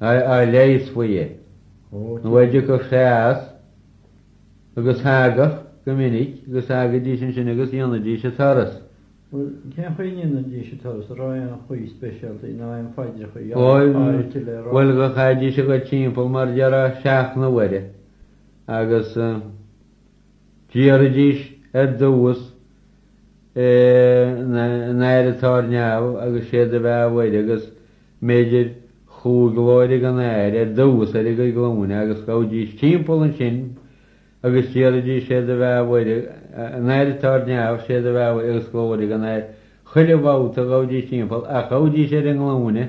a leigheas faoi é, nó a dtiocfadh sé as, agus thagadh, go minic, agus thagaidís ansin agus dhéanaidís an turas. Bhuel, cén chaoi a ndéanaidís an turas, an raibh aon chaoi speisialta nó aon phaidreacha áirithe le rá? Bhuel, chaithidís a dhul timpeall mar a déarfá seacht n-uaire, agus Deiridís ar dtús Ár nAthair atá ar neamh agus Sé do bheatha a Mhuire agus b'fhéidir chúig Glóir don Athair ar dtús ar a gcuid glúine agus ghabhaidís timpeall ansin agus deiridís Sé do bheatha a Mhuire, Ár nAthair atá ar neamh, Sé do bheatha a Mhuire agus Glóir don Athair. Chuile bhabhta ghabhaidís timpeall ach ghabhaidís ar a nglúine.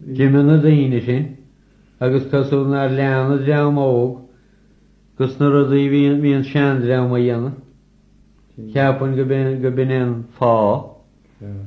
D'imigh na daoine sin, agus cosúil nár lean an dream óg dos na rudaí a bhí an seandream a dhéanamh, cheapfainn go b'in é an fáth.